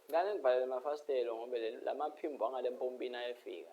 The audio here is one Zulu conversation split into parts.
Ngane ngivalele amafasitelo ngoba lamaphimbo angale mpompini ayefika.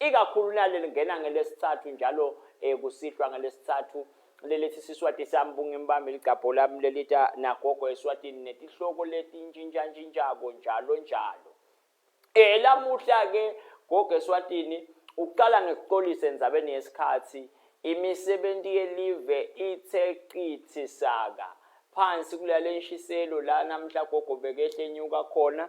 ikakhulu naleli ngena ngelesithathu njalo um kusihlwa ngelesithathu lelethi siswati sami bungimbambe ligabho lami lelita nagogo eswatini netihloko letintshintshantshintsha-ko njalo njalo um lamuhla-ke gogo eswatini ukuqala ngikuxolise enzabeni yesikhathi imisebenzi yelive ithe qithi saka phansi kulale nshiselo la namhla gogo bekehle nyuka khona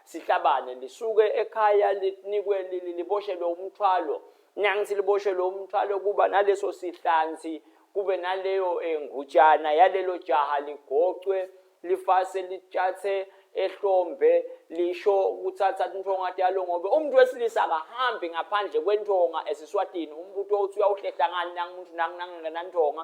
Sihlabane lisuke ekhaya linikwe liboshelwe umthwalo nangithi liboshelwe umthwalo kuba naleso sihlanzi kube naleyo engutshana eh, yalelo jaha ligocwe lifase litshathe ehlombe lisho ukuthatha intonga yalo ngobe umuntu wesilisa akahambi ngaphandle kwentonga esiswatini umbutho uthi uyawuhlehla ngani nangimuntu nanginangingenantonga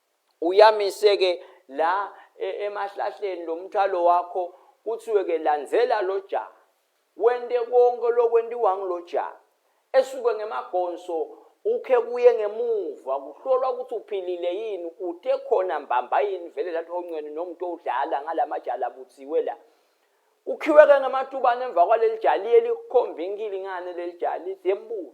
uyamise ke la e, emahlahleni lo mthwalo wakho kuthiwe ke landzela lo ja wente konke lokwentiwa ngulo ja esuke ngemagonso ukhe kuye ngemuva kuhlolwa ukuthi uphilile yini uthe khona mbamba yini vele lathi honcweni nomuntu odlala ngalamajala buthiwe la ukhiweke ngematubane emva kwaleli jali elikhomba inkilingane leli jali zembulo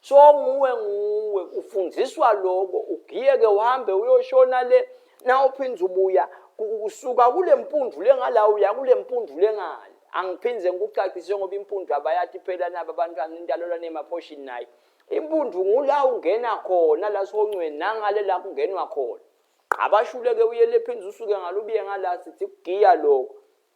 so nguwe nguwe ufundiswa loko ugiyeke uhambe uyoshona le na uphinde ubuya usuka kule mpundu lengala uya kule mpundu lengale angiphinde ngikucacise ngoba impundu abayati phela nabo abantwana indalelwa nemaphoshini naye impundu ngula ungena khona la sihongcweni nangale la kungenwa khona abashuleke uyele phinde usuke ngalo ubiye ngala sithi kugiya lokho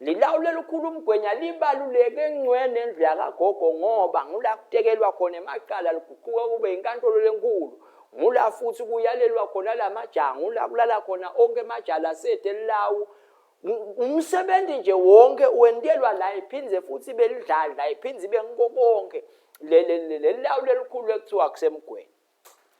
Lilawu lelikhulu umgwenya libaluleke encwe nendlu yakagogo ngoba ngula kutekelwa khona emacala liguquka kube inkantolo lenkulu ngula futhi kuyalelwa khona la majaha ngula kulala khona onke emajala asethe lilawu umsebenzi nje wonke wentelwa la iphindze futhi belidlala la iphindze ibe ngiko konke leli lawu lelikhulu ekuthiwa kusemgweni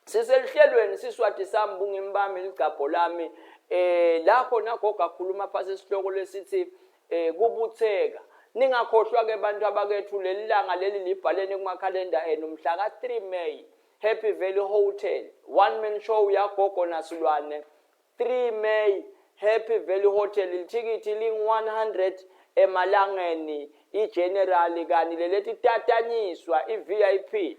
siseluhlelweni siswati sami bungimi bami ligcabho lami eh la khona gogo akhuluma phasi isihloko lesithi eh kubutheka ningakhohlwa ke bantu abakethu leli langa leli libhaleni kumakhalenda enu mhla ka 3 May Happy Valley Hotel one man show yagogo nasilwane 3 May Happy Valley Hotel lithikithi ling 100 emalangeni igeneral kani lelethi tatanyiswa iVIP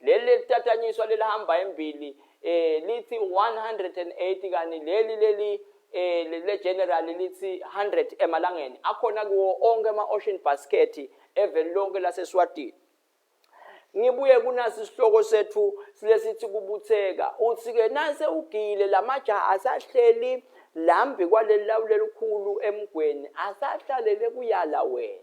Leli lelitatanyiswa lelihamba embili eh lithi 180 kani leli leli eh le general lithi 100 emalangeni akhona kuwo onke ama ocean basket eveli lonke laseSwatini ngibuye kunasi isihloko sethu silesithi kubutheka uthi ke nase ugile lamajaha asahleli lambi kwaleli lawu lelikhulu emgweni asahlalele kuyala wena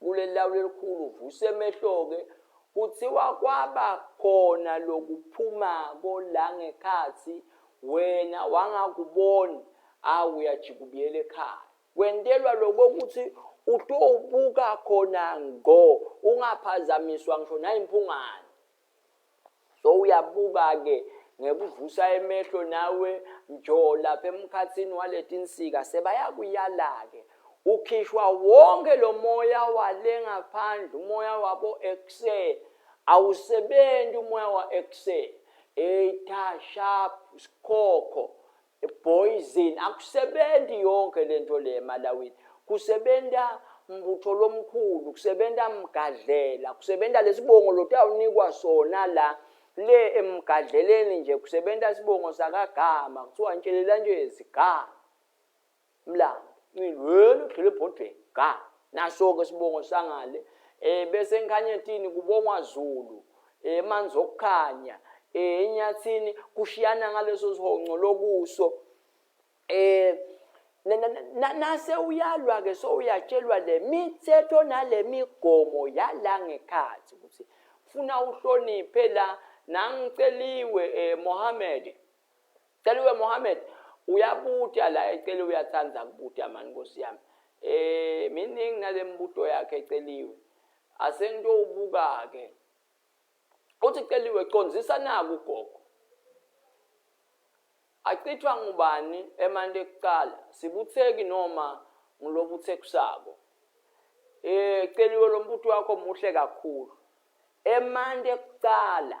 kuleli lawu lelikhulu vuse emehlo-ke kuthiwa kwaba khona lokuphumako la ngekhathi wena wangakuboni awu uyajika ubuyela ekhaya kwentelwa lokho ukuthi utowubuka khona ngo ungaphazamiswa ngisho nayimphungane so uyabuka-ke ngekuvusa emehlo nawe njo lapha emkhathini waletinsika sebayakuyala-ke ukhishwa wonke lo moya wale ngaphandle umoya wabo ekuse awusebenzi umoya wa ekuse eyitha sharp sikhokho Poison akusebenzi yonke lento le emalawini kusebenza mbutho lomkhulu kusebenza mgadlela kusebenza lesibongo lotawunikwa sona la le emgadleleni nje kusebenza isibongo sakagama kuthiwa ntshelela nje zigama Mlambo, ncili wena udlule ebhodweni. Ga, naso-ke isibongo sangale. Eh bese eNkhanyetini kubongwa Zulu. Eh manzi okukhanya. Eh eNyathini kushiyana ngaleso sihonco lokuso. Eh nase uyalwa-ke sowuyatshelwa le mithetho nale migomo yala ngekhathi ukuthi funa uhloniphe la nangiceliwe um eh, mohammed Celiwe Mohammed uyabuta la ecele uyathanda kubuta mani nkosi yami eh miningi nalembuto yakhe eceliwe asento ubuka ke uthi celiwe condzisa naku gogo achithwa ngubani emanti ekuqala sibutheki noma ngilobuthekusako eh celiwe lombuto wakho muhle kakhulu emanti ekuqala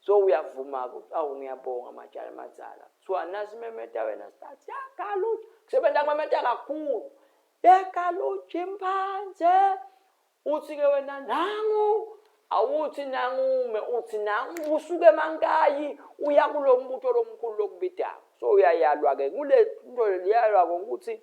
so uyavuma-ke ukuthi awu ngiyabonga matshana amadzala kuthiwa nasi imemeta wena start yagaluja kusebenza kumemeta kakhulu yagaluja imphanze uthi-ke wena nangu awuthi nangume uthi nangu usuke emankayi uya kulo mbutho lomkhulu lokubidako so uyayalwa-ke kule nto liyalwa-ke ukuthi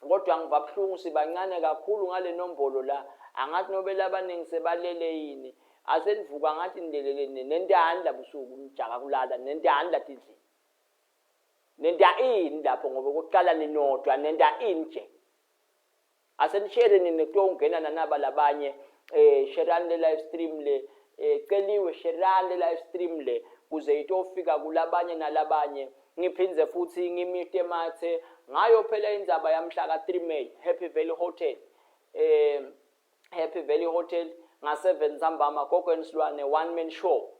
Kodwa ngiva buhlungu sibancane kakhulu ngale nombolo la. Angathi nobele abaningi sebalele yini. Ase nivuka ngathi nilelele nini. Nenta hani la busuku nijaka kulala. Nenta hani la tindlini. Nenta ini lapho ngoba okokuqala ninodwa nenta ini nje. Ase nishere nini kuthiwa ungena nanaba labanye. Eh sherani le live stream le. Eh celiwe sherani le live stream le. Kuze itofika kulabanye nalabanye. Ngiphinde futhi ngimute mathe ngayo phela indzaba yamhla ka 3 May Happy Valley Hotel eh Happy Valley Hotel nga 7 ntambama gogo ensilwane one man show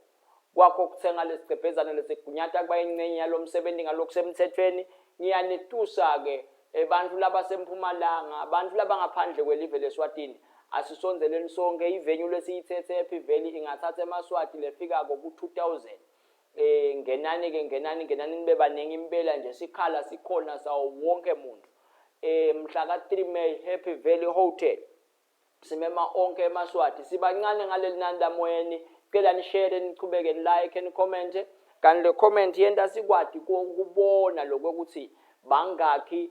kwakho ukuthenga lesigcebhezana lesigunyata kuba ingcenye yalomsebenzi ngalokho semthethweni ngiyanitusa ke abantu eh, laba sempumalanga abantu laba ngaphandle kwelive leswatini asisonzeleni sonke ivenue lesiyithethe ePhiveli ingathatha emaswati lefika ko 2000 Eh ngenani ke ngenani ngenani nibe baningi impela nje sikhala sikhona sawo wonke umuntu. Eh mhla ka 3 May Happy Valley Hotel. Simema onke emaswati sibancane ngaleli nani lamoyeni cela nishare nichubeke ni like ni comment kanti le comment yenta sikwati ukubona lokho ukuthi bangakhi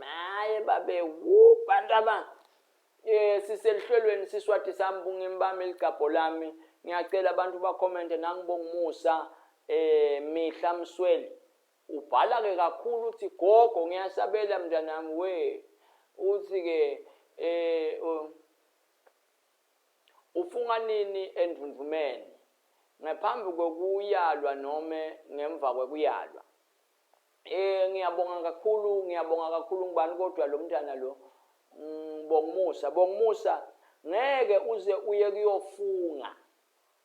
hayi babe wu bantu aba eh siselihlelweni siswati sami bungimbami ligabho lami ngiyacela abantu bakhomente nangibonga umusa eh mihla msweli ubhala ke kakhulu uthi gogo ngiyasabela mntanami we uthi ke eh ufunga nini endundumeni ngaphambi kokuyalwa noma ngemva kokuyalwa Eh ngiyabonga kakhulu ngiyabonga kakhulu ngibani kodwa lo mntana lo mm, Bongmusa Bongmusa ngeke uze uye kuyofunga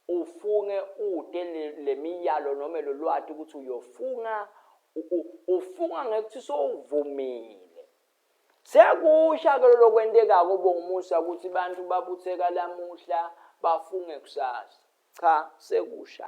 ufunge ude lemiyalo noma lolwati ukuthi uyofunga ufunga ngekuthi sowuvumile sekusha ke lokwentekako bongumusa ukuthi abantu babutheka lamuhla bafunge kusasa cha sekusha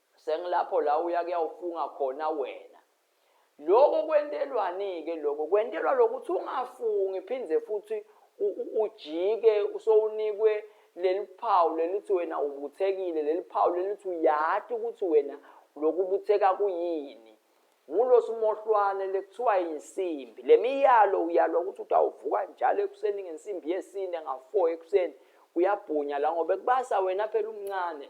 Sengilapho la uya kuyawufunga khona wena. Lokho kwentelwani-ke lokho? Kwentelwa lokuthi ungafungi phinde futhi ujike usowunikwe leli phawu lelithi wena ubuthekile, leli phawu lelithi uyati ukuthi wena lokhu ubutheka kuyini. Ngulo simohlwane lekuthiwa insimbi. Le miyalo uyalwa ukuthi utawuvuka njalo ekuseni ngensimbi yesine nga-four ekuseni uyabhunya la ngoba ekubasa wena phela umncane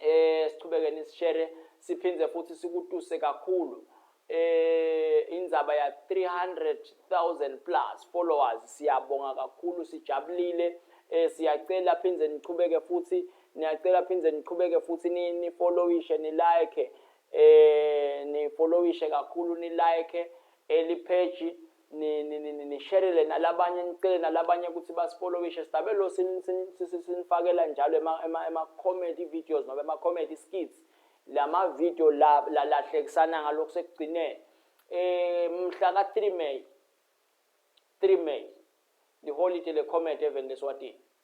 eh siqhubeke nisishare siphinde futhi sikutuse kakhulu eh indzaba ya 300000 plus followers siyabonga kakhulu sijabulile eh siyacela phinde niqhubeke futhi niyacela phinde niqhubeke futhi ni, ni followishe ni like eh ni followishe kakhulu ni like elipage nisherele nalabanye nicele nalabanye ukuthi basipolowishe sidabe lo sinifakela njalo ema-comedy videos noma ema-comedy skits la mavidiyo lahlekisana ngalokhu sekugcineni um mhla ka-three may three may liholide le-comedy eveni leswatini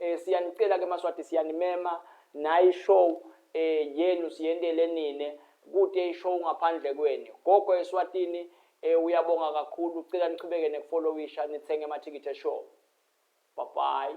Eh siyanicela ke Maswati siyanimema nayi show eh yenu siyendele nine kude ishow ngaphandle kweni. Gogo eSwatini eh uyabonga kakhulu cela niqhubeke nekufollowisha nithenge amathikithi eshow. Bye bye.